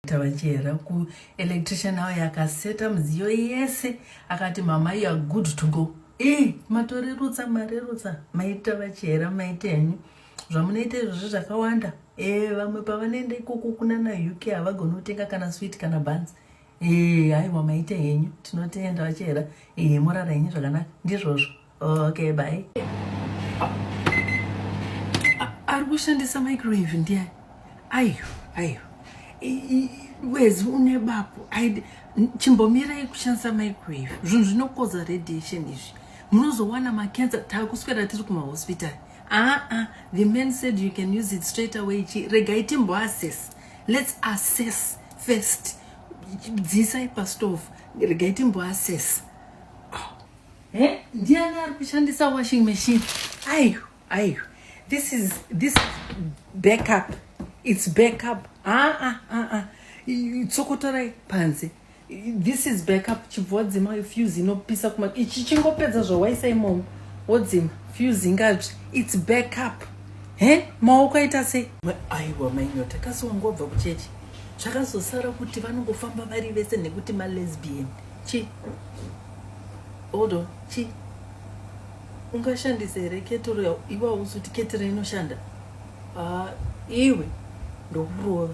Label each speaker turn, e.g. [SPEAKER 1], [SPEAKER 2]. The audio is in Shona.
[SPEAKER 1] tavachera ku electrician awo yakaseta mudziyo yese akati mama you are good to go e matorerutsa marerutsa maita vachera maita henyu zvamunoita izvozvi zvakawanda e vamwe pavanoenda ikoko kunana uk havagoni kutenga kana swit kana bans e haiwa maita henyu tinotenda vachera e morara henyu zvakanaka ndizvozvo okay bye ari kushandisa microwave ndiani ayo ayo wezi une bapo chimbomirai kushandisa microwave zvinhu zvinokoza radiation izvi munozowana makensa taakuswera tiri kumahospitari aa the man said you can use it straight away chi regai timboassess let's assess first dzisai pastove regai timboassess He? Ndiani ari kushandisa washing machine? Ayu, ayu. This is this is backup. It's backup. Ah ah ah ah. Tsokotorai panze. This is backup. Chibvodzima fuse inopisa kuma ichi chingopedza zvawaisa imomo. Wodzima fuse ingadzvi. It's backup. He? Maoko aita sei? Aiwa mainyota kasi wangobva kuchechi. Zvakazosara kuti vanongofamba vari vese nekuti malesbian. Chi? Hold on, chi ungashandisa here ketoro ya iwe hausi kuti ketoro inoshanda? Ah, iwe ndokurova.